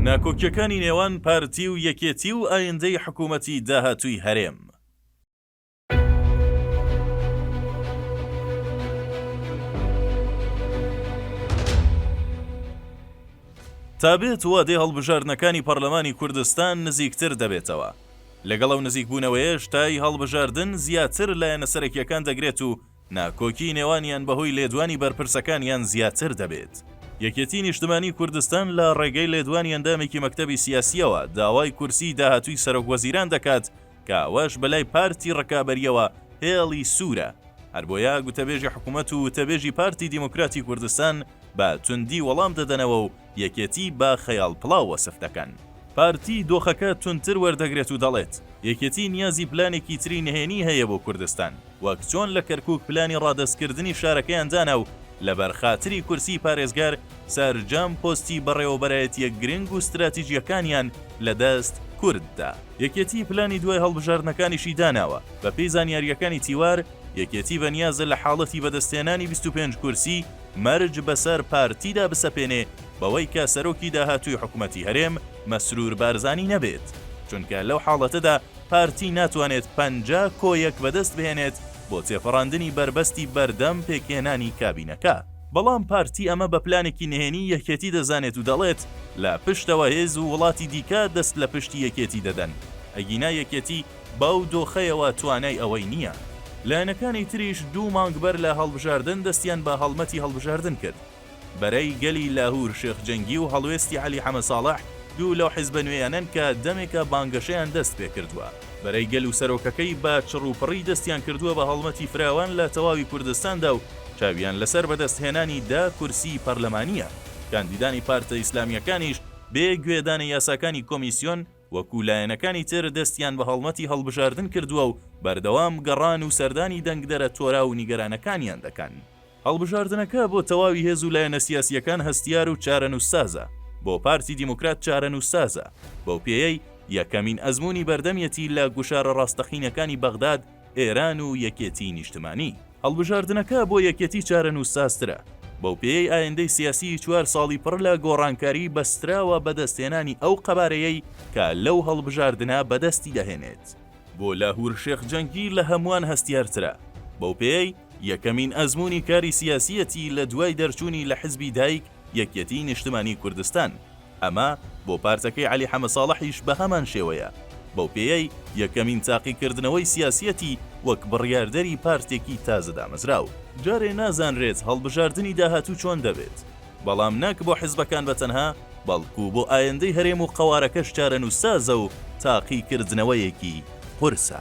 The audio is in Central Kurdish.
ناکۆکیەکانی نێوان پارتی و یەکێتی و ئایندەی حکومەتی داهاتووی هەرێم. تا بێت وادەی هەڵبژاردنەکانی پەرلەمانی کوردستان نزیکتر دەبێتەوە، لەگەڵ ئەو نزیکبوونەوەیەش تای هەڵبژاردن زیاتر لایەنە سەرەکیەکان دەگرێت و ناکۆکی نێوانیان بەهۆی لێدوانی بەرپرسەکانیان زیاتر دەبێت. یەکێتی نیشتمانی کوردستان لە ڕێگەی لێدوانی ئەندامێکی مەکتەبی سیاسییەوە داوای کورسیی داهاتووی سەرۆک وەزیران دەکات کە ئەوەش بەلای پارتی ڕکابەرییەوە هێڵی سوورە، هەربۆیە گوتەبێژی حکوومەت و وتەبێژی پارتی دیموکراتی کوردستان بە توندی وەڵام دەدەنەوە و یەکێتی بە خەیاڵ پڵاو وەسف دەکەن. پارتی دۆخەکە توندتر وەردەگرێت و دەڵێت، یەکێتی نیازی پلانێکی تری نهێنی هەیە بۆ کوردستان، وەک چۆن لە کەرکووک پلانی ڕادەستکردنی شارەکەیان دانا و لەبەر خاتری کورسیی پارێزگار سەرجەم پۆستی بەڕێوەبەرایەتییە گرنگ و ستراتیجییەکانیان لە دەست کورد دا. یەکێتی پلانی دوای هەڵبژاردنەکانیشی داناوە. بەپێی زانیارییەکانی تیوار، یەکێتی بەنیازە لە حاڵەتی بەدەستهێنانی بیست و پێنج کورسی، مەرج بەسەر پارتیدا بسەپێنێ بەوەی کە سەرۆکی داهاتووی حکومەتی هەرێم مەسرور بارزانی نەبێت، چونکە لەو حاڵەتەدا پارتی ناتوانێت پەنجا کۆ یەک بەدەست بهێنێت بۆ تێپەڕاندنی بەربەستی بەردەم پێکهێنانی کابینەکە. بەڵام پارتی ئەمە بە پلانێکی نهێنی یەکێتی دەزانێت و دەڵێت لە پشتەوە هێز و وڵاتی دیکە دەست لە پشتی یەکێتی دەدەن، ئەگینا یەکێتی، بەو دۆخەیەوە توانای ئەوەی نییە. لایەنەکانی تریش دوو مانگ بەر لە هەڵبژاردن دەستیان بە هەڵمەتی هەڵبژاردن کرد. بەرەی گەلی لاهور شێخ جەنگی و هەڵوێستی عەلی حەمە ساڵح دوو لەو حیزبە نوێیانەن کە دەمێکە بانگەشەیان دەست پێ کردووە. بەرەی گەل و سەرۆکەکەی بە چڕوپڕی دەستیان کردووە بە هەڵمەتی فراوان لە تەواوی کوردستاندا و چاویان لەسەر بەدەست هێنانی دە کورسیی پەرلەمانییە. کاندیدانی پارتە ئیسلامییەکانیش بێ گوێدانە یاساکانی کۆمیسیۆن، وەکو لایەنەکانی تر دەستیان بە هەڵمەتی هەڵبژاردن کردووە و بەردەوام گەڕان و سەردانی دەنگدەرە تۆراو و نیگەرانەکانیان دەکەن. هەڵبژاردنەکە بۆ تەواوی هێز و لایەنە سیاسییەکان هەستیار و چارەنووسسازە، بۆ پارتی دیموکرات چارەنووسسازە، بەو پێیەی یەکەمین ئەزموونی بەردەمیەتی لە گوشارە ڕاستەقینەکانی بەغداد، ئێران و یەکێتیی نیشتمانی. هەڵبژاردنەکە بۆ یەکێتی چارەنووسسازترە، بەوپێیەی ئایندەی سیاسیی چوار ساڵی پڕ لە گۆڕانکاری بەستراوە بە دەستهێنانی ئەو قەبارەیەی کە لەو هەڵبژاردنە بەدەستی دەهێنێت. بۆ لاهور شێخ جەنگی لە هەمووان هەستیارترە، بەوپێیەی یەکەمین ئەزموونی کاری سیاسییەتی لە دوای دەرچوونی لە حزبی دایک، یەکێتیی نیشتمانیی کوردستان. ئەمە بۆ پارتەکەی عەلی حەمەساڵحیش بەهەمان شێوەیە، بەو پێیەی یەکەمین تاقیکردنەوەی سیاسییەتی وەک بڕیاردەری پارتێکی تازە دامەزراو. جارێ نازانرێت هەڵبژاردنی داهاتوو چۆن دەبێت، بەڵام نەک بۆ حزبەکان بە تەنها، بەڵکو بۆ ئایندەی هەرێم و قەوارەکەش چارەنووسسازە و تاقیکردنەوەیەکی قورسە.